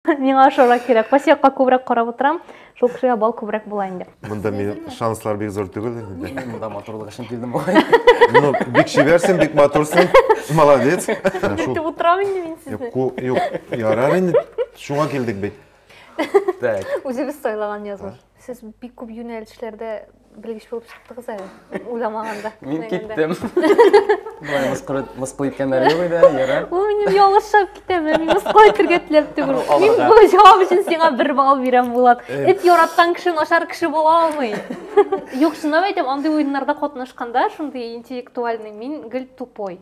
Миңа ашарак кирәк. Васиякка күбрәк карап утырам. Шул кешегә бал күбрәк була инде. Монда мин шанслар бик зур түгел инде. Мин монда матурлык өчен килдем бугай. Ну, бик чибәрсең, бик матурсың. Молодец. Дип утырам инде мин сезне. Юк, юк, ярар инде. Шуңа килдек бит. Так. Үзебез сайлаган язмыш. Сез бик күп юнәлешләрдә белгеч булып чыктыгыз әле, уйламаганда. Мин киттем. Болай мыскыл, мыскыл иткәннәр юк иде, яра. Ул минем ялгышып китәм, мин мыскыл итергә теләп түгел. Мин бу җавап өчен сиңа бер балл бирәм, Булат. Эт яраткан кеше начар кеше була алмый. Юк, шуны әйтәм, андый уеннарда катнашканда, шундый интеллектуальный, мин гел тупой.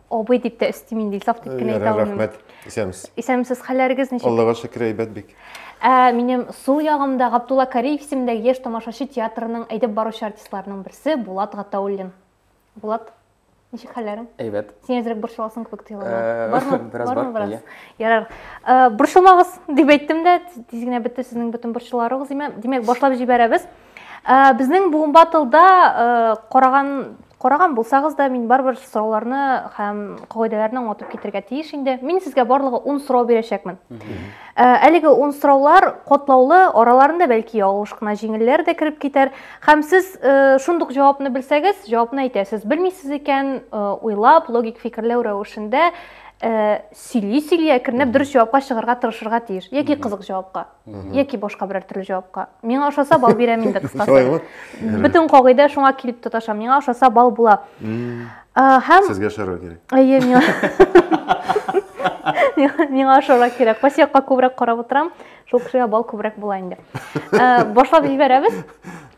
Абый дип тә өстим инде, Илсаф дип кенә әйтә алмыйм. Рәхмәт, исәнмесез. Исәнмесез, хәлләрегез ничек? Аллага шөкер, әйбәт бик. Ә минем сул ягымда Габдулла Кариев исемендәге яшь тамашачы театрының әйдәп баручы артистларының берсе Булат Гатауллин. Булат, ничек хәлләрең? Әйбәт. Син әзрәк борчыласың кебек тоела. Э, Бармы? Бераз бар. Бармы иә. Ярар. Э, борчылмагыз дип әйттем дә, тиз генә бетте сезнең бөтен борчуларыгыз. Димәк, башлап җибәрәбез. Ә, безнең буын батылда ә, караган караган булсагыз да мин барыбер сорауларны һәм кагыйдәләрне аңлатып китергә тиеш инде мин сезгә барлыгы ун сорау бирәчәкмен ә, әлеге ун сораулар катлаулы араларында бәлки ялгыш кына җиңелләр дә кереп китәр һәм сез ә, шундук җавапны белсәгез җавапны әйтәсез белмисез икән ә, уйлап логик фикерләү рәвешендә ә, сөйли сөйли әкренләп дөрес җавапка чыгарга тырышырга тиеш яки кызык җавапка яки башка берәр төрле җавапка миңа ошаса бал бирәм инде кыскасы бөтен кагыйдә шуңа килеп тоташа миңа ошаса бал була һәм сезгә ошарга кирәк әйе миңа миңа ошарга кирәк кайсы якка күбрәк карап утырам шул кешегә бал күбрәк була инде башлап җибәрәбез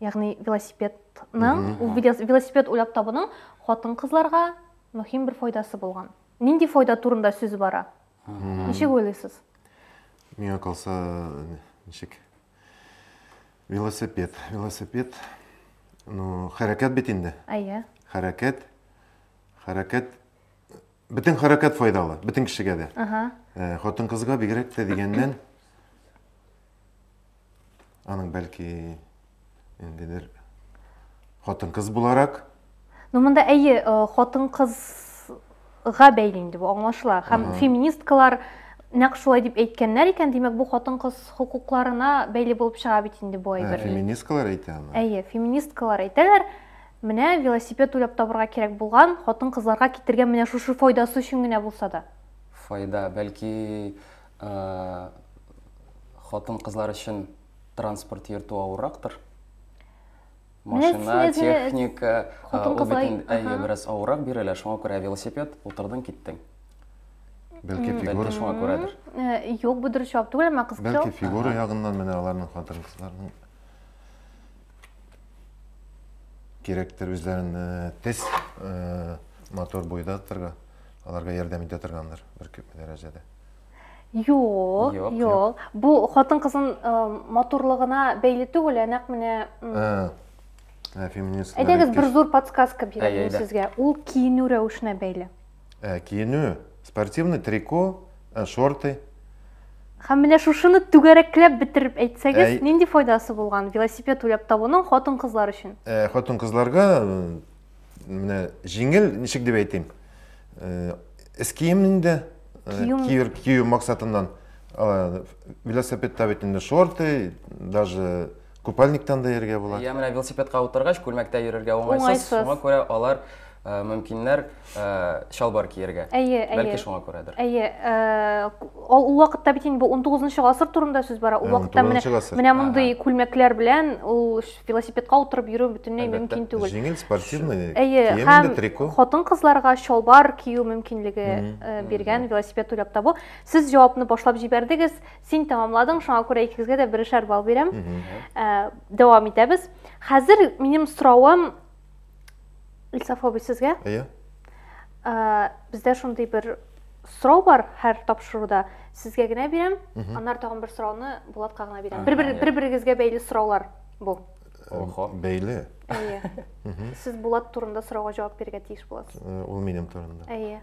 Ягъни велосипедның, ул велосипед уйлап табуның хатын-кызларга мөһим бер файдасы булган. Нинди файда турында сүз бара? Ничек уйлыйсыз? Миңа калса, ничек? Велосипед, велосипед. Ну, хәрәкәт бит инде. Әйе. Хәрәкәт. Хәрәкәт Бөтен хәрәкәт файдалы, бөтен кешегә дә. Ага. Э, Хатын-кызга бигрәк тә дигәннән аның бәлки ниндидер хатын-кыз буларак Ну, монда әйе, э, хатын-кызга бәйле инде бу аңлашыла. Һәм Ага. феминисткалар нәкъ шулай дип әйткәннәр икән, димәк, бу хатын-кыз хокукларына бәйле булып чыга бит инде бу ә, әйбер. феминисткалар әйтә аны. Әйе, феминисткалар әйтәләр. Менә велосипед уйлап табырга кирәк булган, хатын-кызларга китергән менә шушы файдасы өчен генә булса да. Файда, бәлки, хатын-кызлар өчен транспорт йөртү авыррактыр? Машина, техника, ул бит әйе, бераз авыррак бирелә, шуңа күрә велосипед, утырдың, киттең. Бәлки фигура шуңа күрәдер. Юк, бу дөрес җавап түгел, әмма кызыксыну. Бәлки фигура ягыннан менә аларның хатын-кызларның кирәктер үзләрен тез мотор буйда торга аларга ярдәм итә торгандыр бер күп дәрәҗәдә Юк, юк. Бу хатын кызын матурлыгына бәйле түгел, ә нәкъ менә феминистка. Әйдәгез бер зур подсказка бирәм сезгә. Ул киенү рәвешенә бәйле. Ә, киенү, спортивный трико, ә, шорты. Һәм менә шушыны түгәрәкләп бетереп әйтсәгез, Әй. нинди файдасы булган велосипед уйлап табуның хатын-кызлар өчен? Ә, хатын-кызларга э, менә җиңел, ничек дип әйтим, э, эскием инде, э, Кием. киер- кию максатыннан. Э, Велосипедта бит инде шорты, даже Купальниктан да йөрергә була. Я менә велосипедка утыргач, күлмәктә йөрергә уңайсыз. Шуңа күрә алар э, мөмкиннәр э, чалбар киергә. Әйе, әйе. Бәлки шуңа күрәдер. Әйе, э, ул вакытта бит инде 19 гасыр турында сүз бара. Ул вакытта менә менә мондый күлмәкләр белән ул велосипедка утырып йөрү бөтенләй мөмкин түгел. Җиңел спортивный кием инде трико. Хатын-кызларга чалбар кию мөмкинлеге биргән велосипед уйлап табу. Сез җавапны башлап җибәрдегез. Син тәмамладың, шуңа күрә икегезгә дә берешәр балл бирәм. Ә, дәвам итәбез. Хәзер минем соравым Илсаф абый сезгә. Әйе. Ә, бездә шундый бер сорау бар һәр тапшыруда. Сезгә генә бирәм, аннары тагын бер сорауны Булатка гына бирәм. Бер-бер бер-берегезгә бәйле сораулар бу. Охо. Бәйле. Әйе. Сез Булат турында сорауга җавап бирергә тиеш буласыз. Ул минем турында. Әйе.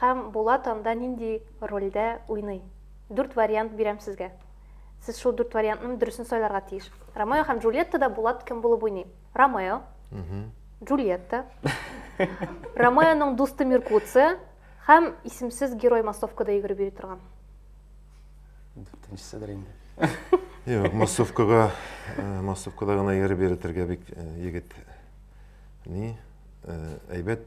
Һәм Булат анда нинди рольдә уйный? Дүрт вариант бирәм сезгә. Сез шул дүрт вариантның дөресен сайларга тиеш. Ромео һәм Джульеттада Булат кем булып уйный? Ромео, Джульетта, Ромеоның дусты Меркуция һәм исемсез герой массовкада йөгереп йөри торган. Дүртенчесе дер инде. Юк, массовкага, э, массовкада гына йөреп йөртергә бик э, егет ни э, әйбәт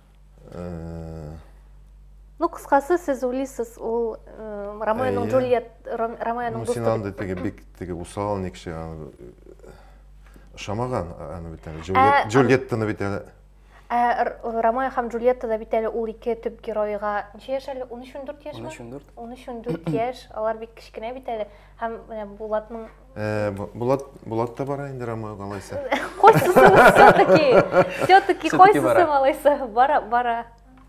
Э, ну кыскасы сез уйлыйсыз ул э, ромеоның джульет ромеоның дусты син андый теге бик теге усал ник кеше ошамаган аны бит әле ә, джульеттаны бит әле ә ромео һәм джульеттада бит әле ул ике төп геройга ничә яшь әле он өч он дүрт яшьме он өч он дүрт он өч он дүрт яшь алар бик кечкенә бит әле Һәм менә Булатның Э, Бу- Булат, Булат та бара инде Ромеога алайса. Хочется все-таки, все-таки Всё-таки хочется бара. малайса, бара, бара.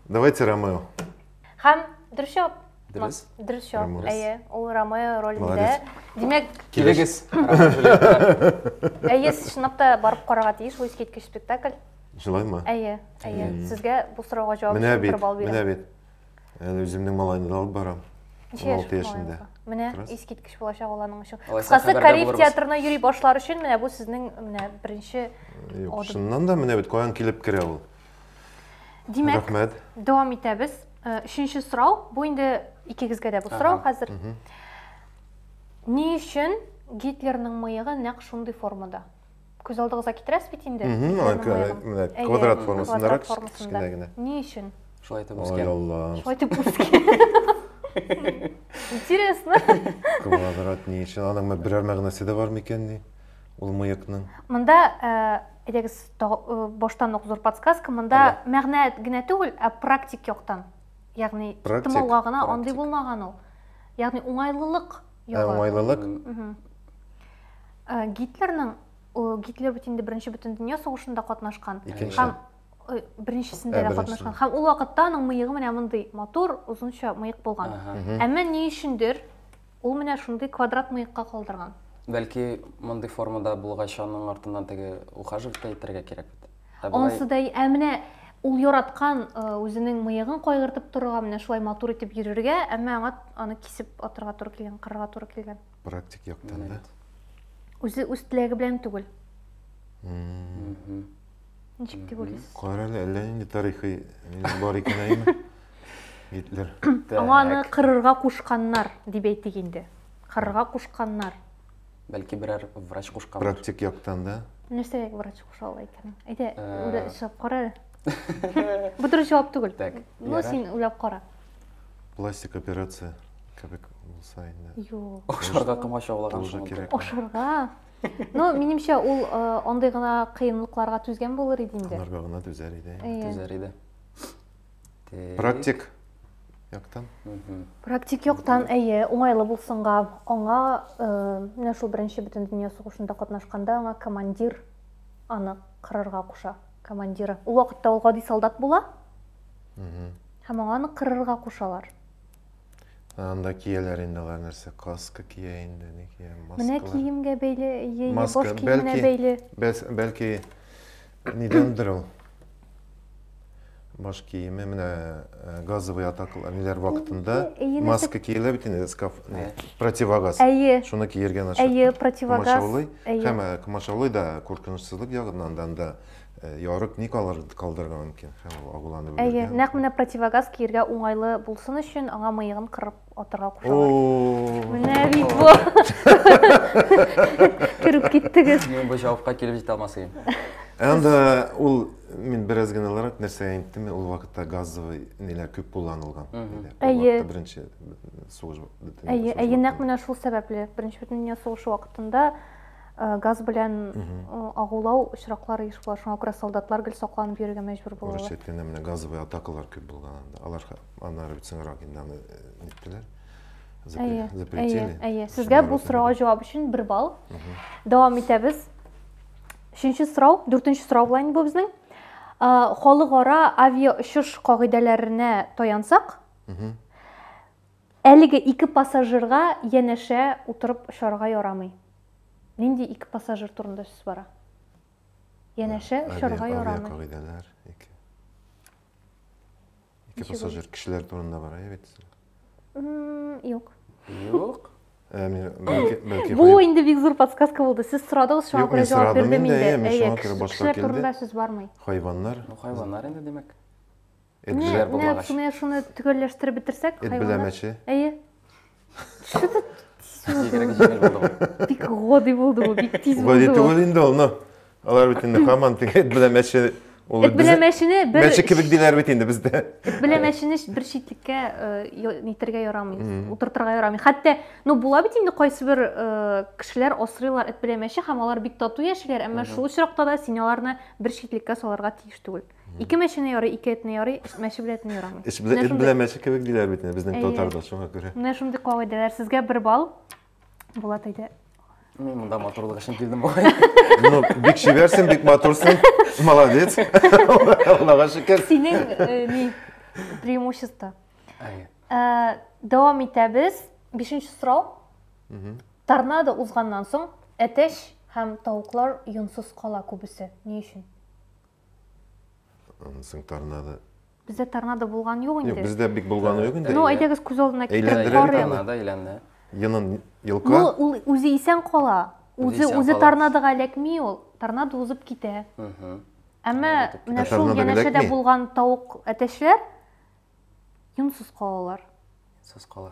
Давайте Ромео. Һәм дөрес җавап. Дөрес. Ма- Дөрес җавап. Ромео. Әйе, ул Ромео ролендә. Молодец. Димәк, Килегез. әйе, сез чынлап та барып карарга тиеш, бу искиткеч спектакль. Җылаймы? Әйе, әйе. Сезгә бу сорауга җавап Менә өчен бит, бер балл менә бирәм. бит. Әле үземнең малайны да алып барам. Ничә яшь 16 яшендә. малайыңызга? Менә Раз. искиткеч булачак ул аның өчен. Алайса, Кыскасы, хәбәрдар Кариев булырбыз. театрына йөри башлар өчен менә бу сезнең менә беренче Юк, Адым. чыннан да менә бит каян килеп керә ул. Димәк, Рәхмәт. дәвам итәбез. Э, Өченче сорау, бу инде икегезгә дә бу сорау Ага. хәзер. Ни өчен Гитлерның мыегы нәкъ шундый формада? күз алдыгызга китерәсез бит инде менә квадрат формасындарак кечкенә генә ни өчен шулай итеп үскән ай алла шулай итеп үскән интересно квадрат ни өчен аның берәр мәгънәсе дә бар микән ни ул мыекның монда әйдәгез баштан ук зур подсказка монда мәгънә генә түгел ә практик яктан ягъни тымауга гына андый булмаган ул ягъни уңайлылык Э, уңайлылык э, гитлерның гитлер бит инде беренче бөтен дөнья сугышында катнашкан һәм э, беренчесендә дә катнашкан һәм ул вакытта аның мыегы менә мондый матур озынча мыек булган әмма ни өчендер ул менә шундый квадрат мыекка калдырган бәлки мондый формада булгач аның артыннан теге ухаживать әйтергә кирәк бит Ансы да, ә менә ул яраткан үзенең мыегын кайгыртып торырга, менә шулай матур итеп йөрергә, әмма аңа аны кисеп атырга туры килгән, кырырга туры килгән. Практик яктан да. Үзе үз теләге белән түгел. Ничек дип уйлыйсыз? Кара әле, әллә нинди тарихи бар икән әйме? Гитлер. Аңа аны кырырга кушканнар, дип әйтик инде. Кырырга кушканнар. Бәлки берәр врач кушкан. Практик яктан да. Нәрсә врач куша ала икән? Әйдә, э. чыгып кара әле. Бу дөрес җавап түгел. Так. Ну, син уйлап кара. Пластик операция кебек булса инде. Юк. Ашарга комач аулаган шул. Ашарга. Ну, минемчә, ул э, андый гына кыенлыкларга түзгән булыр иде инде. Аларга гына түзәр иде. Түзәр иде. Практик яктан. Практик яктан, әйе, уңайлы булсынга, аңа э, менә шул беренче бөтен дөнья сугышында катнашканда аңа командир аны кырырга куша. Командиры. Ул вакытта ул гади солдат була. Һәм аңа аны кырырга кушалар. Анда кияләр инде алар нәрсә, каска кия инде, ни кия, маска. Менә киемгә бәйле, яе баш киеменә бәйле. Бәлки, нидәндер ул? Баш киеме, менә э, газовый атакалар, ниләр вакытында маска киелә бит инде, скаф, не, противогаз. Әйе. Шуны киергән аша. Әйе, противогаз. Комачаулый, һәм э, комачаулый да куркынычсызлык ягыннан да, Э, ярык ни калдырырга мөмкин һәм ул агуланып үләргә. Әйе, нәкъ менә противогаз киергә уңайлы булсын өчен аңа мыегын кырып атырга кушалар. Менә бит бу. Кереп киттегез. Мин бу җавапка килеп җитә алмас идем. Әнде ул мин бераз гыйналарак нәрсәгә инттем, ул вакытта газовый ниләр күп кулланылган. Әйе. Беренче сугыш бөтен. Әйе, әйе, нәкъ менә шул сәбәпле. Беренче бөтен дөнья сугышы вакытында Э, газ белән э, агулау очраклары еш була шуңа күрә солдатлар гел сакланып йөрергә мәҗбүр булалар урысча әйткәндә менә газовый атакалар күп булган анда алар аннары бит соңрак инде аны э, ниттеләр запретили әйе сезгә бу сорауга җавап өчен бер балл дәвам итәбез өченче сорау дүртенче сорау була инде бу безнең халыкара авиаочыш кагыйдәләренә таянсак Әлеге ике пассажирга янәшә утырып очарга ярамый. Нинди ике пассажир турында сүз бара? Янәшә очарга ярамый. Авиакагыйдәләр, ике. Ике пассажир кешеләр турында бара, әйбәт дисең. Юк. Юк. Бу инде бик зур подсказка булды. Сез сорадыгыз, шуңа күрә җавап бирдем инде. Әйе, кешеләр турында сүз бармый. Хайваннар. Ну, хайваннар инде, димәк. Эт Не, бизәр не, булмагач. шуны, шуны төгәлләштереп бетерсәк, Эт хайваннар- беләмәче. Әйе. Что ты Бигрәк җиңел булды бу. бик годи булды бу, бик тиз Бу булды. түгел инде ул, но. Алар бит инде хаман теге эт белән мәче. Ул Эт белән мәчене бер мәче кебек диләр бит инде бездә. Эт белән мәчене бер читлеккә э, я- нитәргә ярамый, Мгм. утыртырга ярамый. Хәтта, ну була бит инде кайсы бер э, кешеләр асрыйлар эт белән мәче һәм алар бик тату яшиләр, әмма Мгм. шул очракта да син аларны бер читлеккә салырга тиеш түгел. Ике мәчене ярый, ике этне ярый, эш мәче белән этне ярамый. Эш белән эт белән мәче кебек диләр бит безнең Әйе. татарда, шуңа күрә. Менә шундый кагыйдәләр. Сезгә бер балл. Булат әйдә. Мин монда матурлык өчен килдем бугай. Ну, бик шибәрсең, бик матурсың. Молодец. Аллага шөкер. Синең э, ни преимущество. Әйе. Э, дәвам итәбез. Бишенче сорау. Торнадо узганнан соң әтәч һәм тавыклар йонсыз кала күбесе. Ни өчен? Аннан соң торнадо. Бездә торнадо булган юк инде. Юк, бездә бик булганы юк инде. Ну, әйдәгез күз алдына китереп карыйк. Торнадо әйләнде. Йонын йолка. Ну, ул үзе исән кала. Үзе үзе торнадога эләкми ул. Торнадо узып китә. Әмма менә шул янәшәдә булган тавык әтәчләр йонсыз калалар. Йонсыз кала.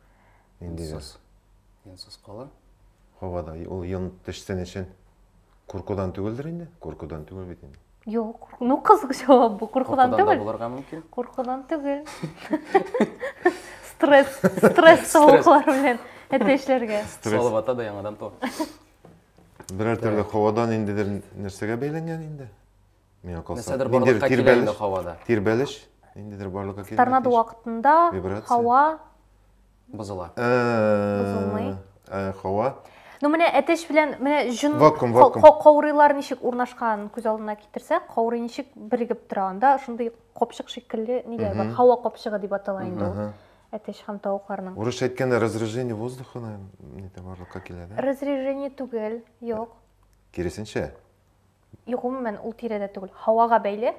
Инде без. Йонсыз кала. Һавада ул йон төшсен өчен. Куркудан түгелдер инде? Куркудан түгел бит инде. Юк, ну кызык җавап бу. Куркудан түгел. Куркудан булырга мөмкин. Куркудан түгел. Стресс, стресс тавыклар белән әтәчләргә. Салып ата да яңадан то. Берәр төрле һавадан индедер нәрсәгә бәйләнгән инде? Миңа калса, Нәрсәдер ниндидер барлыкка килә тирбәлеш- инде һавада. Тирбәлеш, ниндидер барлыкка килгән Торнадо тиеш. вакытында Вибрация. һава, Бозыла. Э, Бозылмый. э, Һава. ну менә әтәч белән менә җон Вакуум, ка- вакуум. ка- каурыйлар ничек урнашканын күз алдына китерсәк, каурый ничек бирегеп тора, анда шундый капчык шикелле ниләр бар, Мгм. һава капчыгы дип атала инде ул Ага. әтәч һәм тавыкларның. Урысча әйткәндә разрежение воздуха, наверное, нидә барлыкка килә, да? Разрежение түгел, юк. Киресенчә. И, гомумән, ул тирәдә түгел, һавага бәйле.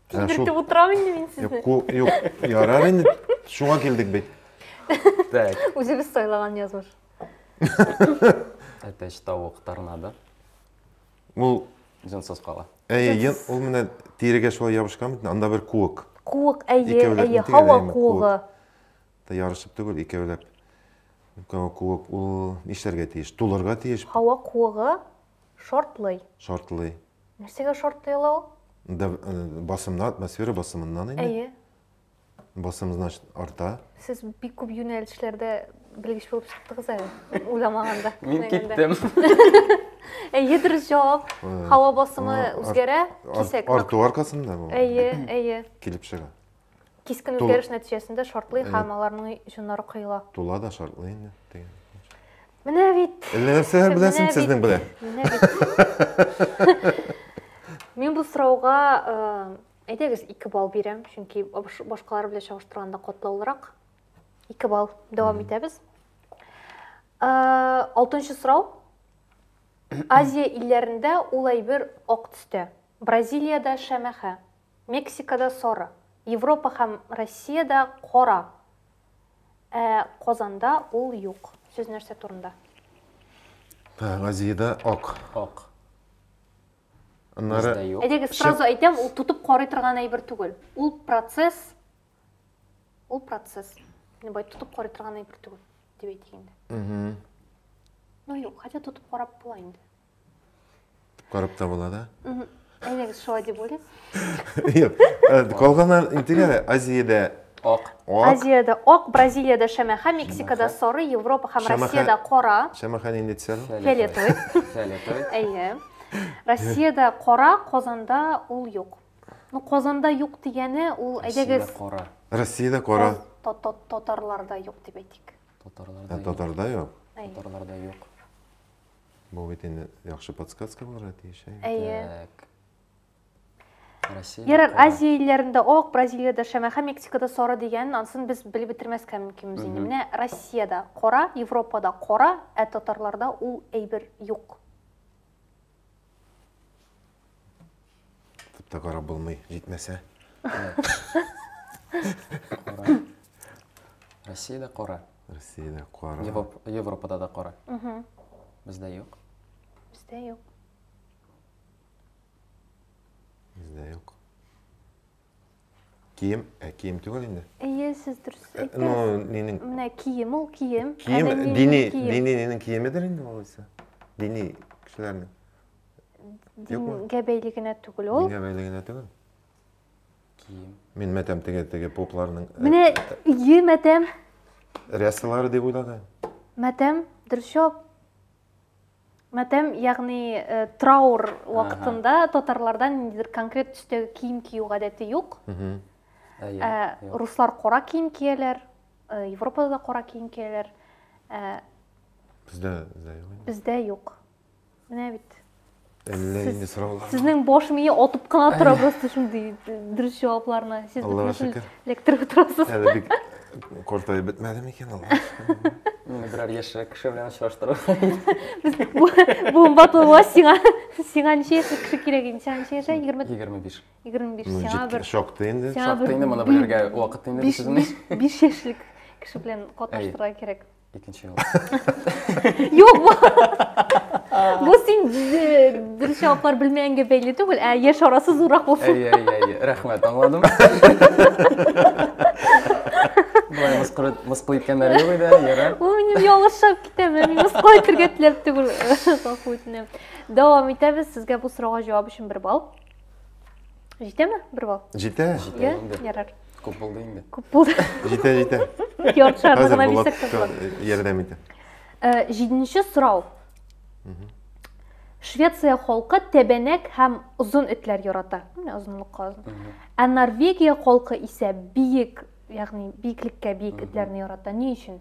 Тилертеп утырам инде мин сезне. Юк, ярар инде. Шуңа килдек бит. Так. Үзебез сайлаган язмыш. Әтәч тавык торнадо. Ул җансыз кала. Әйе, ул менә тирегә шулай ябышкан бит, анда бер куык. Куык, әйе, әйе, һава куыгы. Та ярышып түгел, икәүләп. Һава куык, ул нишләргә тиеш? Тулырга тиеш. Һава куыгы шартлый. Шартлый. Нәрсәгә шартлый ала ул? Да, э, басымна, атмосфера басымыннан инде. Әйе. Басым, значит, арта. Сез бик күп юнәлешләрдә белгеч булып чыктыгыз әле. Уйламаганда. Мин киттем. Әйе, дөрес җавап. Һава басымы үзгәрә, кисәк. Арту аркасында бу. Әйе, әйе. Килеп чыга. Кискен үзгәреш нәтиҗәсендә шартлый һәм аларның җоннары кыела. Тула да шартлый инде дигән. Менә бит. Әллә нәрсәләр беләсең сезнең белән? Менә бит. Мин бу сорауга әйдәгез 2 балл бирәм, чөнки башкалар белән чагыштырганда катлаулырак. 2 балл дәвам итәбез. Алтынчы сорау. Азия илләрендә ул әйбер ак төстә. Бразилиядә шәмәхә. Мексикада сары, Европа һәм Россиядә кара, ә Казанда ул юк. Сүз нәрсә турында? Азиядә ак. Ак. Аннары. Бездә юк. Әйдәгез, сразу әйтәм, ул тотып карый торган әйбер түгел. Ул процесс, ул процесс. Менә бай тотып карый торган әйбер түгел, дип әйтик инде. Ну юк, хотя тотып карап була инде. Карап та була да? Әйдәгез, шулай дип уйлыйм. Юк. Э, Калганнар интегә Азиядә Ак. ак, Азиядә ак, Бразилиядә шәмәхә, Мексикада сары, Европа һәм Шәмәхә. Россиядә кара. шәмәхә нинди төсәл? Фиолетовый. Фиолетовый. Әйе. Россиядә кара, Казанда ул юк. Ну, Казанда юк дигәне ул, әйдәгез, Россиядә Кара. Россиядә кара, та- та- татарларда юк дип әйтик. Татарларда ә юк. татарда юк. Әйе. Татарларда юк. Бу бит инде яхшы подсказка булырга тиеш. Ә? Әйе. Так. Россия. Ярар, кара. Азия илләрендә ак, Бразилиядә шәмә һәм Мексикада сары дигән, ансын без белеп бетермәскә мөмкинбез инде. Мгм. Менә Россиядә кара, Европада кара, ә татарларда ул әйбер юк. Футта карап булмый, җитмәсә. Кара. Россиядә кара. Россиядә кара. Европ- Европада да кара. Мгм. Бездә юк. Бездә юк. Бездә юк. Кием, ә кием түгел инде. Әйе, сез дөрес Э, әйттегез. Ну, нинең Менә кием ул кием. кием, Әмәлиянең дини, кием. дини нинең киемедер инде ул исә. Дини кешеләрнең. Дингә бәйле генә түгел ул. Дингә бәйле генә түгел. Кием. Мин мәтәм теге теге попларның. Э, Менә ие мәтәм. Рясалары дип уйлаган. Мәтәм, дөрес җавап. Мәтәм, ягъни э, траур вакытында татарларда ниндидер конкрет төстәге кием кию гадәте юк. Э, руслар кара кием кияләр, Европада да кара кием кияләр. Бездә юк. Бездә юк. Менә бит. Әллә инде сораулар. Сезнең баш мие атып кына тора просто шундый дөрес җавапларны. Сез Аллага шөкер. Электр утырасыз. Әле бик картаеп бетмәде микән ул? Менә берәр яшьрәк кеше белән очраштыру. Без бу батылга сиңа сиңа ничә яшьлек кеше кирәк инде? Сиңа ничә яшә? 20 25. 25. Сиңа бер шактый инде. Шактый инде моны белергә вакыт инде сезнең. 5 яшьлек кеше белән катнаштырырга кирәк. Икенче юл. Юк, бу. Бу син дөрес җаваплар белмәгәнгә бәйле түгел, ә яшь арасы зуррак булсын. Әйе, әйе, әйе. Рәхмәт, аңладым. Болай мыскыл, мыскыл иткәннәр юк иде, яра. Бу минем ялгышып китәме? Мин мыскыл итергә теләп түгел. Гафу үтенәм. Дәвам итәбез. Сезгә бу сорауга җавап өчен бер балл. Җитәме? Бер бал. Җитә. Җитә инде. Ярар. Күп булды инде. Күп булды. Җитә, җитә. Ярты шарны гына бисәк тә Ярдәм итә. Җиденче сорау. Швеция халкы тәбәнәк һәм озын этләр ярата. Менә озынлыкка озын. Ә Норвегия халкы исә биек, ягъни биеклеккә биек этләрне ярата. Ни өчен?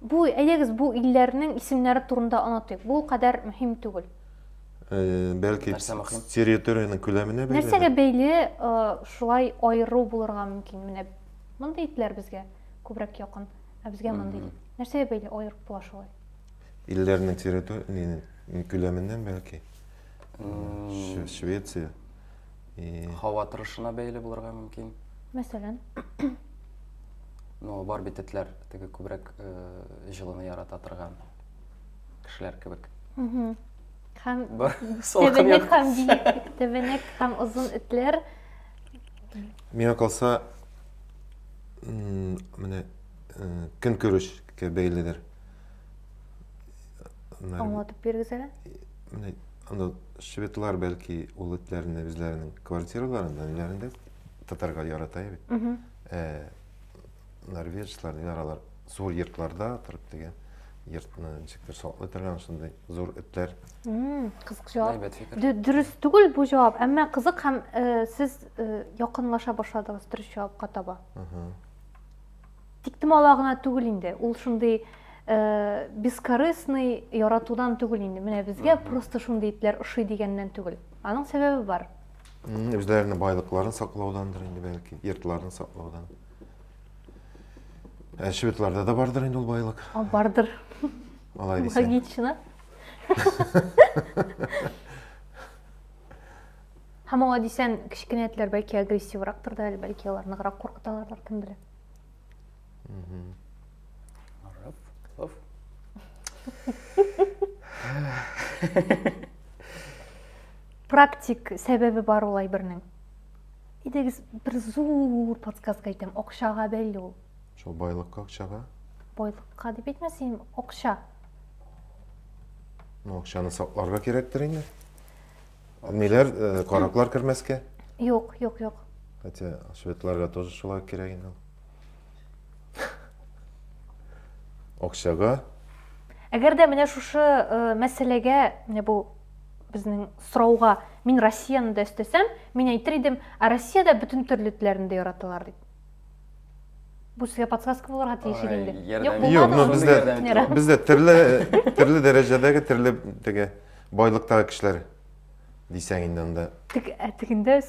Бу, әйдәгез, бу илләрнең исемнәре турында онытыйк. Бу ул кадәр мөһим түгел. Бәлки территориянең күләменә бәйле. Нәрсәгә бәйле шулай аеру булырга мөмкин? Менә мондый итләр безгә күбрәк якын, ә безгә мондый. Нәрсәгә бәйле аерып була шулай? Илләрнең территориянең күләменнән бәлки. Швеция. И... Һава торышына бәйле булырга мөмкин. Мәсәлән? Ну, бар бит этләр теге күбрәк э, җылыны ярата торган кешеләр кебек. Угу. Һәм тәбәнәк һәм биек, тәбәнәк һәм озын этләр. Миңа калса, менә э, көнкүрешкә бәйледер. Аннары... Аңлатып бирегез әле. Менә анда шведлар бәлки ул этләрне үзләренең квартираларында, ниләрендә татарга ярата бит. Ә норвежецлар дигән алар зур йортларда торып дигән йортны ничектер саклый торган шундый зур этләр. Кызык җавап. Дөрес түгел бу җавап, әмма кызык һәм сез якынлаша башладыгыз дөрес җавапка таба. Тиктемала гына түгел инде, ул шундый э, бескорыстный яратудан түгел инде. Менә безгә просто шундый итләр ошый дигәннән түгел. Аның сәбәбе бар. Үзләренең байлыкларын саклаудандыр инде бәлки, йортларын саклаудан. Ә шведларда да бардыр инде ул байлык. А, бардыр. Алай дисәң. Логично. Һәм аңа дисәң, кечкенә этләр бәлки агрессиврактыр да әле, бәлки алар ныграк куркыталардыр, кем белә. практик сәбәбе бар ул әйбернең идегез бер зур подсказка әйтәм акчага бәйле ул шул байлыкка акчага байлыкка дип әйтмә син акча ну акчаны сакларга кирәктер инде Ниләр, э, караклар кермәскә? Юк, юк, юк. Хотя шведларга тоже шулай кирәк инде. Акчага. Әгәр дә менә шушы э, мәсьәләгә, менә бу безнең сорауга мин Россияны да өстәсәм, мин әйтер идем, ә Россиядә бөтен төрле этләрне дә яраталар дип. Бу сезгә подсказка булырга тиеш иде инде. Юк, Юк, но бездә бездә төрле төрле дәрәҗәдәге төрле теге Байлыктагы кешеләр дисәң инде анда. Тик ә тегендә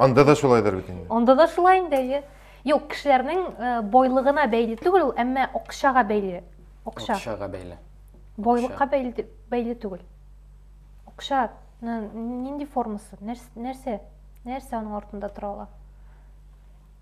Анда да шулайдыр бит инде. Анда да шулай инде, әйе. Юк, кешеләрнең э, байлыгына бәйле түгел ул, әмма акчага бәйле. Акча. Акчага бәйле. Байлыкка бәйле, бәйле түгел. Акча нинди формасы? Нәрсә? Нәрсә аның артында тора ала?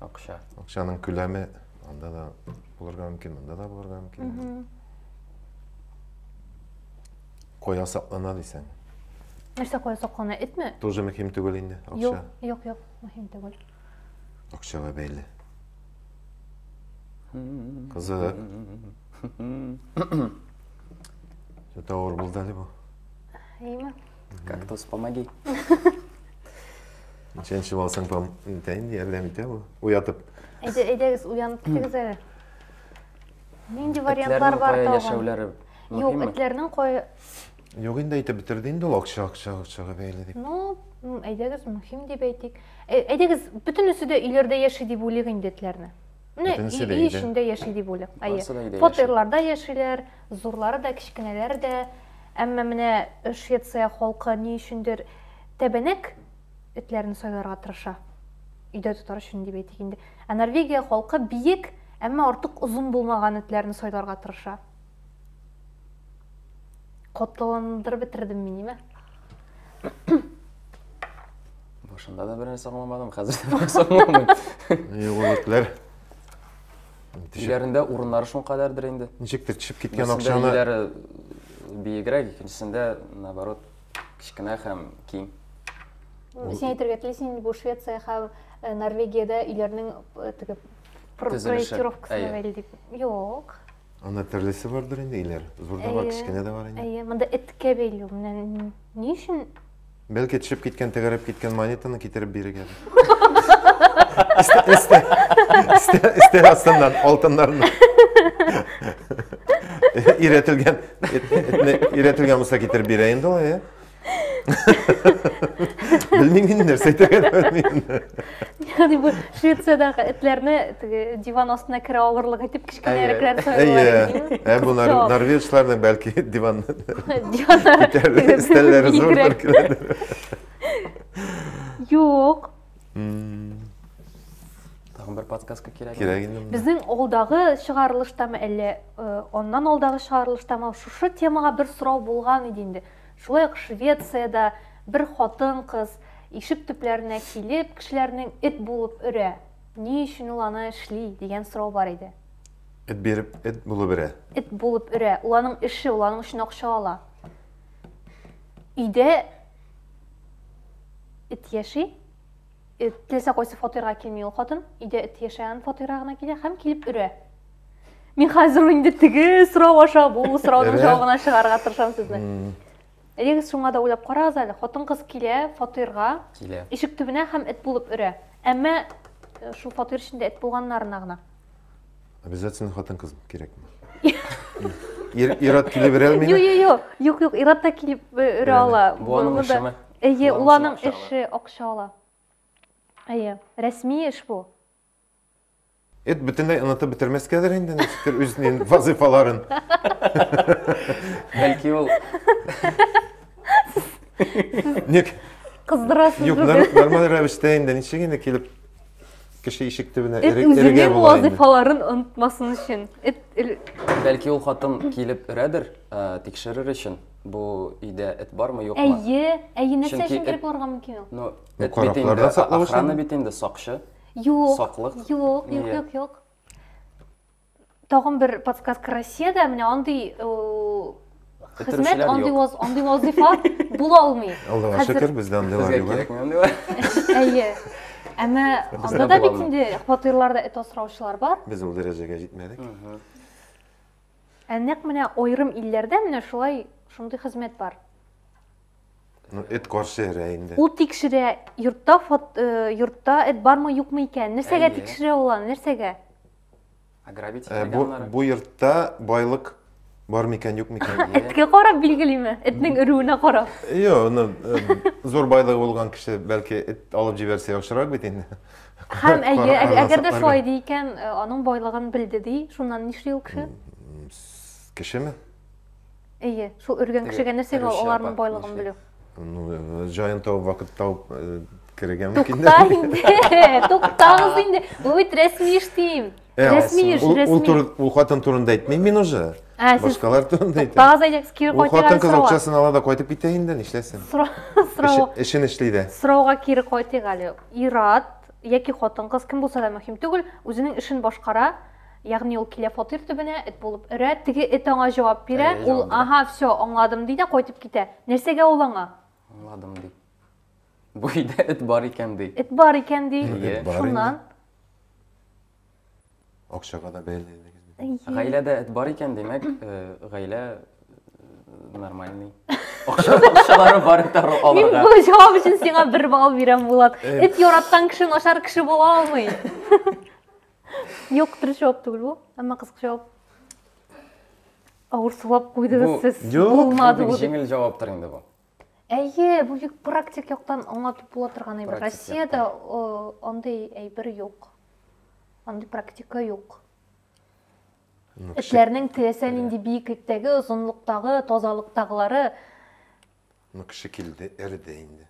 Акча. Акчаның күләме анда да булырга мөмкин, монда да булырга мөмкин. Коя саклана дисәң. Нәрсә коя саклана? Этме? Тоже мөһим түгел инде, акча. Юк, юк, юк, мөһим түгел. Акчага бәйле. Кызык. Что-то аур был дали бы. Имя? Кактус, помоги. Чәнчеп алсаң, пом... итә инде, ярдәм итә бу. Уятып. Әйдә, әйдәгез, уянып китегез әле. Нинди вариантлар бар тагын? яшәүләре Юк, мөһимме? этләрнең кая... Юк инде әйтеп бетерде инде ул акча, акча, акчага бәйле дип. Ну, м, әйдәгез, мөһим дип әйтик. Ә- Әйдәгез, бөтенесе дә өйләрдә яши дип уйлыйк инде этләрне. Менә өй эчендә яши дип уйлыйк. Әйе. Фатирларда яшиләр, зурлары да, кечкенәләре дә. Әмма менә Швеция халкы ни өчендер тәбәнәк этләрне сайларга тырыша. Өйдә тотар өчен дип әйтик инде. Ә Норвегия халкы биек, әмма артык озын булмаган этләрне сайларга тырыша. Котландырып бетердем мин, ме? Башында да берәр саңламадым, хәзер дә берәр саңламыйм. Югылыклар. Өйләрендә урыннары шул кадәрдер инде. Ничектер төшеп киткән акчаны. Өйләре биегрәк, икенчесендә наоборот кечкенә һәм киң. Син әйтергә телисең, бу Швеция һәм э, Норвегиядә өйләрнең э, теге проектировкасына бәйле дип. Юк. Анда төрлесе бардыр инде өйләр. Зур да бар, кечкенә дә бар инде. Әйе, монда эткә бәйле. Менә ни өчен? Бәлки төшеп киткән, тәгәрәп киткән монетаны китереп бирергә. Өстәл астыннан алтыннарны. Өйрәтелгән, өйрәтелгән булса китереп бирә инде ул, әйе. Белмим инде, нәрсә әйтергә белмим. Ягъни бу Швециядәге этләрне теге диван астына керә алырлык итеп кечкенәрекләр сайлыйлар. Ә бу норвежларның бәлки диван диваннары стәлләре зурдыр киләдер. Юк. Тагын бер подсказка кирәк. Кирәк инде. Безнең алдагы чыгарылыштамы әллә аннан алдагы чыгарылыштамы шушы темага бер сорау булган иде инде. Шулай ук Швециядә бер хатын-кыз ишек төпләренә килеп, кешеләрнең эт булып өрә. Ни өчен ул аны эшли, дигән сорау бар иде. Эт биреп, эт булып өрә. Эт булып өрә. Ул аның эше, ул аның өчен акча ала. Өйдә эт яши. Эт теләсә кайсы фатирга килми ул хатын, өйдә эт яшәгән фатирга гына килә һәм килеп өрә. Мин хәзер инде теге сорау аша бу сорауның җавабына чыгарга тырышам сезне. Элегез шуңа да уйлап карагыз әле, хатын-кыз килә фатирга, килә. Ишек төбенә һәм эт булып өрә. Әмма э, шул фатир эчендә эт булганнарына гына. Обязательно хатын-кыз кирәкме? Ират килеп өрә алмыймы? Юк, юк, юк, Ират та килеп өрә ала. Бу аның эшеме? Әйе, ул аның эше, акча ала. Әйе, рәсми эш бу. Эт бөтенләй онытып бетермәскәдер инде ничектер үзенең вазифаларын. Бәлки ул Ник? Кыздырасыз. Юк, нормаль рәвештә инде ничек инде килеп Кеше ишек төбенә Эт эрегә үзенең була инде. вазыйфаларын онытмасын өчен. Эт ил- Бәлки ул хатын килеп өрәдер, ә, тикшерер өчен, бу өйдә эт бармы, юкмы? Әйе, әйе, нәрсә Чөнки өчен эт- кереп булырга мөмкин ул? Ну, Ну, эт бит каракларда инде, саклау өчен. охрана бит инде, сакчы. Юк, Саклык. юк, юк, Нигә? юк, юк. тагын бер подсказка россиядә менә андый хезмәт андый андый вазифа була алмый аллага шөкер бездә андыйлар юк кирәкми андыйлар әйе әмма анда да бит инде фатирларда эт асраучылар бар без ул дәрәҗәгә җитмәдек ә нәкъ менә аерым илләрдә менә шулай шундый хезмәт бар ну эт каршы эрә инде ул тикшерә йортта йортта эт бармы юкмы икән нәрсәгә тикшерә ул аны нәрсәгә Ограбить Ә, бу, итмәгәннәр. бу йортта байлык бар микән, юк микән? Эткә карап билгелиме? Этнең өрүенә карап. Йо, ну, э, зур байлыгы булган кеше бәлки эт алып җибәрсә яхшырак бит инде. Һәм әйе, Кара- әг- әгәр дә карасакларга. шулай ди икән, э, аның байлыгын белде ди, шуннан нишли ул кеше? Кешеме? Әйе, шул өргән кешегә нәрсә генә аларның байлыгын белү. Ну, э, җаен табып, вакыт табып э, керергә мөмкин. Тукта инде, туктагыз инде. Бу бит рәсми эш дим. Э, рәсми эш, рәсми. Ул хатын турында әйтмим мин уже. Ә, Башкалар турында әйтәм. Тагыз әйтәкс, кире кайтырга сорау. Хатын кыз акчасын ала да кайтып китә инде, нишләсен? Сорау. Эшен эшли дә. Сорауга кире кайтыйк әле. Ират яки хатын кыз кем булса да мөһим түгел, үзенең эшен башкара, Ягъни ул килә фатир төбенә, эт булып өрә, теге эт аңа җавап бирә, Әле ул, җавап бирә. аһа, все, аңладым, ди дә кайтып китә. Нәрсәгә ул аңа? Аңладым, ди. Бу өйдә эт бар икән, ди. Эт бар икән, ди. Әйе. Эт бар Шуннан. Акчага да бәйләдегез бит. Әйе. Гаиләдә эт бар икән, димәк, э, гаилә э, нормальный. Акча- Акчалары бар эт ару- Мин алырга. бу җавап өчен сиңа бер балл бирәм, Булат. Эт яраткан кешең ашар кеше була алмый. Юк, дөрес җавап түгел бу. Әмма кызык җавап. Авыр сулап куйдыгыз сез. Булмады бу. Җиңел җаваптыр инде бу. Әйе, бу бик практик яктан аңлатып була торган әйбер. Россиядә андый әйбер юк. Андый практика юк. Ну, Этләрнең теләсә нинди биеклектәге, озынлыктагы, тазалыктагылары. Ну, кеше килде, эрде инде.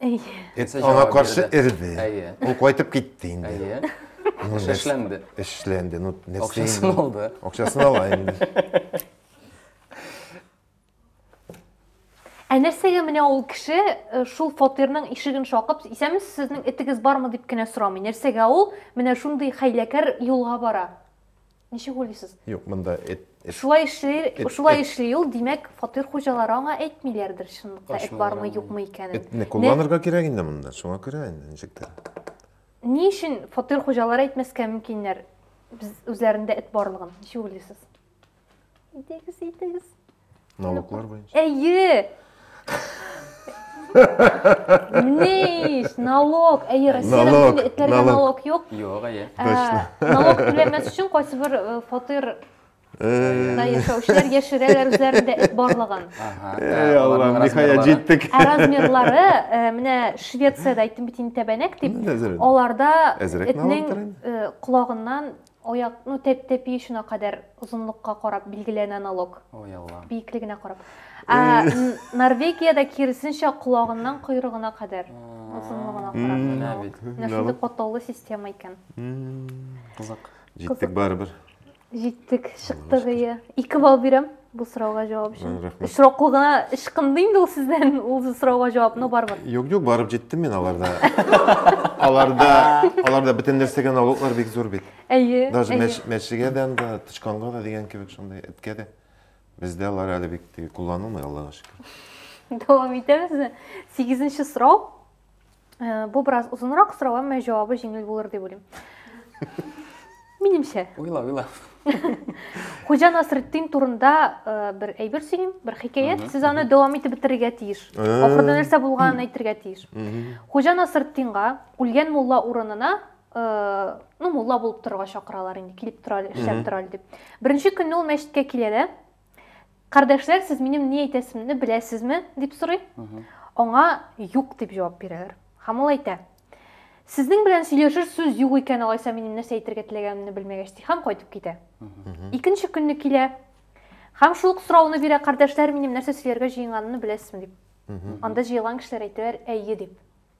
Аңа каршы эрде. Ул кайтып китте инде. Әйе. Ну, нәрс- Эшләнде. Эшләнде. Ну, нәрсә Акчасын инде? алды. Акчасын ала инде. Ә нәрсәгә менә ул кеше э, шул фатирның ишеген шакып, исәнмесез, сезнең этегез бармы дип кенә сорамый. Нәрсәгә ул менә шундый хәйләкәр юлга бара? Ничек уйлыйсыз? Юк, монда эт. Шулай эшли, шулай эшли ул, димәк, фатир хуҗалары аңа әйтмиләрдер чынлыкта эт бармы, юкмы икәнен. Этне кулланырга кирәк инде монда, шуңа күрә инде ничек тә. Ни өчен фатир хуҗалары әйтмәскә мөмкиннәр? Без үзләрендә эт барлыгын, ничек уйлыйсыз? Идегез, идегез. Налоглар буенча. Әйе! Ни эш, налог, әйе, Россиядә Налог, бөтен этләргә налог. налог юк. Юк, әйе. Ә, Точно. Налог түләмәс өчен кайсы бер э, фатирда Э, яшәүчеләр яшерәләр үзләрендә эт барлыгын. Ага. Эй, Аллам, аларның ниһаять размерлары. җиттек. Ә размерлары, э, менә Швециядә әйттем бит инде тәбәнәк дип, Менә әзерәк. аларда Әзерәк налог этнең түләнә. э, колагыннан Аяк, ну тәп тәпи очына кадәр озынлыкка карап билгеләнә налог. Ой Аллам. Биеклегенә карап. Ә Норвегиядә киресенчә колагыннан койрыгына кадәр озынлыгына карап. Менә бит. Менә шундый катлаулы система икән. Кызык. Җиттек барыбер. Җиттек, чыктык, ие. Ике балл бирәм. Бу сорауга җавап өчен. Очраклы гына ычкынды инде ул сездән ул сорауга җавап, но барыбер. Юк, юк, барып җиттем мин аларда. Аларда, аларда бөтен нәрсәгә налоглар бик зур бит. Әйе. Даже мәчегә дә анда, тычканга да дигән кебек шундый, эткә дә. Бездә алар әле бик кулланылмый, Аллага шөкер. Дәвам итәбезме? Сигезенче сорау. Э, бу бераз озынрак сорау, әмма җавабы җиңел булыр дип уйлыйм. Минемчә. Уйла, уйла. Хуҗа Насретдин турында э, бер әйбер сөйлим, бер хикәят. Сез аны дәвам итеп бетерергә тиеш. Э. Ахырда нәрсә булганын әйтергә тиеш. Хуҗа Насретдинга үлгән мулла урынына ну мулла булып торырга чакыралар инде, килеп тора, эшләп тора дип. Беренче көнне ул мәчеткә килә дә, Кардәшләр, сез минем ни әйтәсемне беләсезме? дип сорый. Аңа юк дип җавап бирәләр. Һәм ул әйтә, Сезнең белән сөйләшер сүз юк икән, алайса минем нәрсә әйтергә теләгәнемне белмәгәч, ди һәм кайтып китә. Икенче көнне килә һәм шул ук сорауны бирә, кардәшләр, минем нәрсә сөйләргә җыенганымны беләсезме дип. Анда җыелган кешеләр әйтәләр, әйе дип.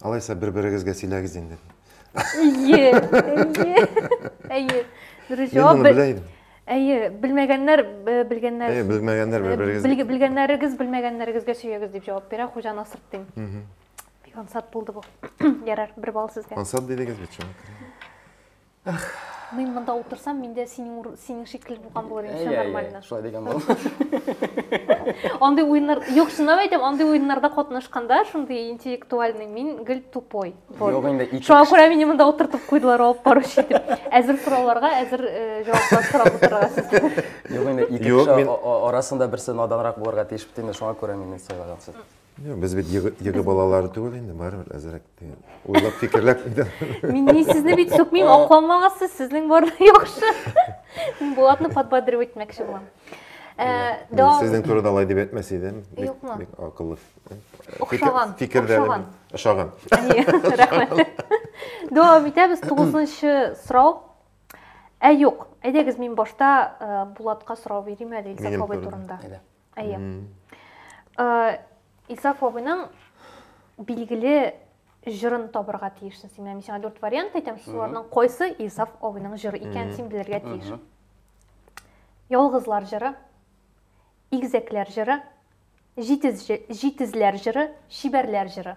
Алайса бер-берегезгә сөйләгез инде. Әйе, әйе, әйе. Дөрес җавап. Мин моны белә идем. Әйе, белмәгәннәр белгәннәр. Әйе, белмәгәннәр бер-берегез. Белгәннәрегез белмәгәннәрегезгә сөйләгез дип җавап бирә Хуҗа Насыр дим. Бик ансат булды бу. Ярар, бер балл сезгә. Ансат дидегез бит шуңа күрә. Мин монда утырсам, мин дә синең синең шикелле булган булыр идем, все нормально. Шулай дигән булам. Андый уеннар, юк, чынлап әйтәм, андый уеннарда катнашканда, шундый интеллектуальный, мин гел тупой. Юк инде ике. Шуңа күрә мине монда утыртып куйдылар, алып баручы итеп. Әзер сорауларга, әзер э, җаваплар сорап утырырга сездән. Юк инде ике кеше арасында берсе наданрак булырга тиеш бит инде, шуңа күрә мине сайлагансыз. Юк, без бит йыгы, йыгы балалары түгел инде, барыбер әзрәк дигән. Уйлап фикерләп инде. Мин ни сезне бит сукмыйм, акламагыз сез, сезнең бар яхшы. Мин Булатны подбадривать итмәкче булам. Ә, Мин дәвам- Сезнең турыда алай дип әйтмәс идем. Бик- Юкмы? Бик акыллы. Охшаган, Фикердә охшаган. ошаган. Әйе, рәхмәт. Дәвам итәбез. Тугызынчы сорау. Ә юк, әйдәгез мин башта э, Булатка сорау бирим әле Илсаф Минем абый турында. турында. Әйдә. Әйе. Э, Исаф абыйның билгеле җырын табырга тиешсең син. Менә мин сиңа дүрт вариант әйтәм, шуларның кайсы Исаф абыйның җыры икәнен син белергә тиеш. Ялгызлар җыры, игзәкләр җыры, җитез җитезләр җыры, чибәрләр җыры.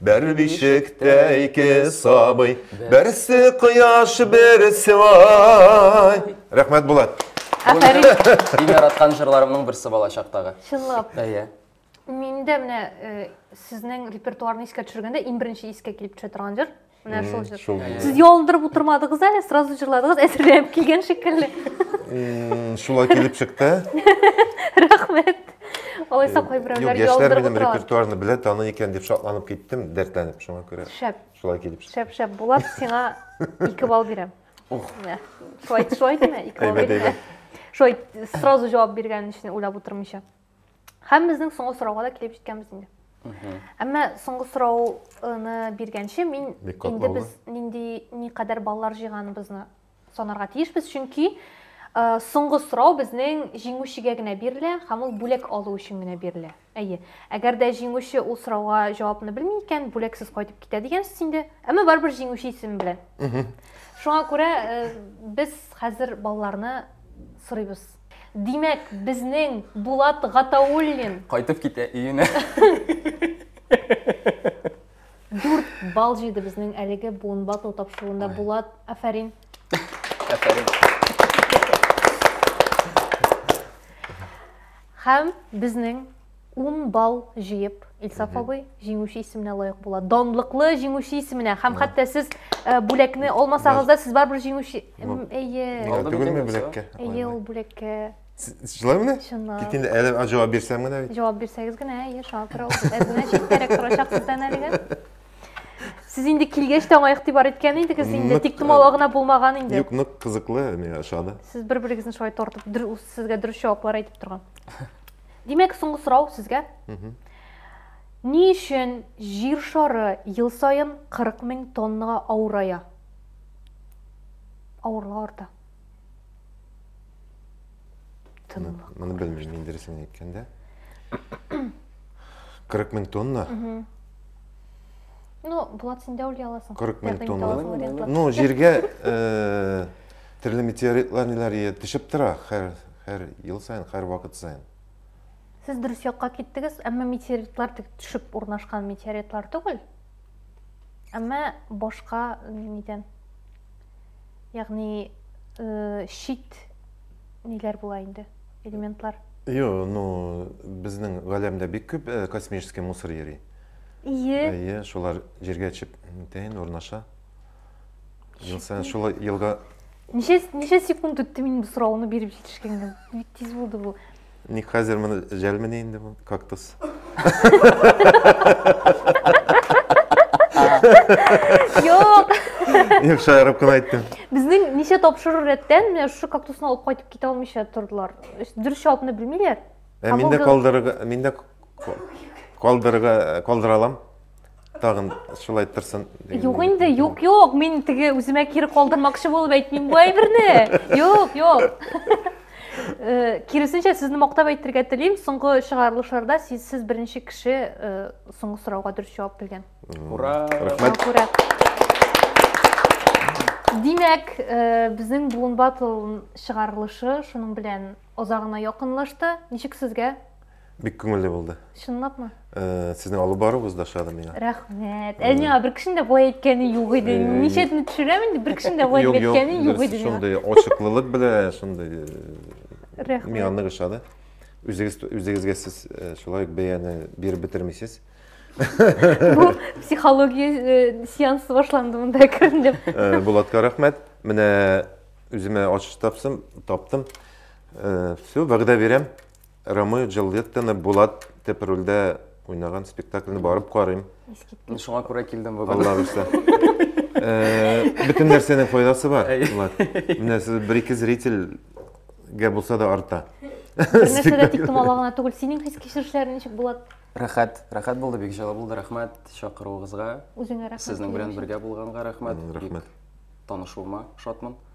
Бер бишектә ике сабый, берсе кояш, берсе ай. Рәхмәт, Булат. Афәрин. Иң яраткан җырларымның берсе бала чактагы. Чынлап. Әйе. Мин дә менә э, сезнең репертуарны искә төшергәндә иң беренче искә килеп төшә торган җыр. Менә шул җыр. Шул. Сез ялындырып утырмадыгыз әле, сразу җырладыгыз, әзерләнеп килгән шикелле. Шулай килеп чыкты. Рәхмәт. Алайса э, кайберәүләр яшьләр минем репертуарны белә, таный икән дип шатланып киттем, дәртләнеп шуңа күрә. Шәп. Шулай килеп чыкты. Шәп, шәп. Булат, сиңа 2 балл бирәм. Ух. Шулай, шулай диме? 2 балл бирәм. Шулай сразу җавап биргән өчен уйлап утырмыйча. Һәм безнең соңгы сорауга да килеп җиткәнбез инде. Әмма соңгы сорауны биргәнче мин инде без нинди никадәр баллар җыйганыбызны Санарга тиешбез, чөнки соңгы сорау безнең җиңүчегә генә бирелә һәм ул бүләк алу өчен генә бирелә. Әйе. Әгәр дә җиңүче ул сорауга җавапны белми икән, бүләксез кайтып китә дигәнсез инде. Әмма барыбер җиңүче исеме белән. Шуңа күрә без хәзер балаларны сорыйбыз. Димәк, безнең Булат Гатауллин кайтып китә өенә. Дүрт бал җыйды безнең әлеге буын батл тапшыруында Булат. Афәрин. Афәрин. Һәм безнең 10 бал җыеп, Илсаф абый җиңүче исеменә лаек була. Данлыклы җиңүче исеменә. Һәм хәтта сез э, бүләкне алмасагыз да, сез барыбер җиңүче. М, Әйе. Түгелме бүләккә? Әйе, ул бүләккә Шулай менә? Чынлап. Тик инде әле җавап бирсәм генә бит. Җавап бирсәгез генә, әйе, шакыр ул. Ә значит, кирәк торачаксыз да әлегә. Сез инде килгәч тә аңа игътибар иткән идегез инде, тик томала гына булмаган инде. Юк, нык кызыклы, миңа ошады. Сез бер-берегезне шулай тартып, сезгә дөрес җаваплар әйтеп торган. Димәк, соңгы сорау сезгә. Ни өчен җир шары ел саен 40 мең тоннага авырая? Авырлыгы арта. Тынлык. Моны белмим, мин дөресен әйткәндә. 40 мең тонна. Ну, Булат, син дә уйлый аласың. 40 мең тонна. Ну, җиргә э, төрле метеоритлар ниләр төшеп тора һәр һәр ел саен, һәр вакыт саен. Сез дөрес якка киттегез, әмма метеоритлар төшеп урнашкан метеоритлар түгел. әмма башка нидән ягъни э, чит ниләр була инде элементлар Йо, ну, безнең галәмдә бик күп э, космический мусор йөри. ие Әйе, шулар җиргә төшеп тәен урнаша. Ел саен шул елга ничә ничә секунд үтте мин бу сорауны биреп җитешкәнгә бик тиз булды бу Ник хәзер моны жәлмени инде бу кактус? Юк. Юк, шаярып кына әйттем. Безнең ничә тапшыру рәттән менә шушы кактусны алып кайтып китә алмыйча тордылар. Дөрес җавапны белмиләр. Ә мин дә калдырырга, мин дә калдырырга, калдыра алам. тагын шулай торсын юк инде юк юк мин теге үземә кире калдырмакчы булып әйтмим бу әйберне юк юк э, киресенчә сезне мактап әйтергә телим соңгы чыгарылышларда сез, сез беренче кеше э, соңгы сорауга дөрес җавап биргән ура рәхмәт ура димәк э, безнең буын батл чыгарылышы шуның белән озагына якынлашты ничек сезгә Бик күңелле булды. Чынлапмы? Э, Сезнең алып баруыгыз да ошады миңа. Рәхмәт. Ә миңа бер кешенең дә болай әйткәне юк иде. Э, Ничәдән төшерәм инде, бер кешенең дә болай Юк, юк, әйткәне юк дөрес, иде миңа. шундый ачыклылык белән, шундый э, Рәхмәт. миңа нык ошады. Үзегез үзегезгә сез э, шулай ук бәяне биреп бетермисез. Бу психология э, сеансы башланды монда кердем дип. Э, Булатка рәхмәт. Менә үземә ачыш тапсым, таптым. Э, Все, вәгъдә бирәм. Рамео Джульеттаны Булат дип рольдә уйнаган спектакльне барып карыйм. Мин шуңа күрә килдем бүген. Алла бирсә. Э, бөтен нәрсәнең файдасы бар. Булат. Менә сез бер ике зрительгә булса да арта. Бернәрсә дә тиктомала гына түгел. Синең хис кичерешләрең ничек, Булат? Рәхәт, рәхәт булды, бик җылы булды. Рәхмәт чакыруыгызга. Үзеңә рәхмәт. Сезнең белән бергә булганга рәхмәт. Рәхмәт. Танышуыма шатмын.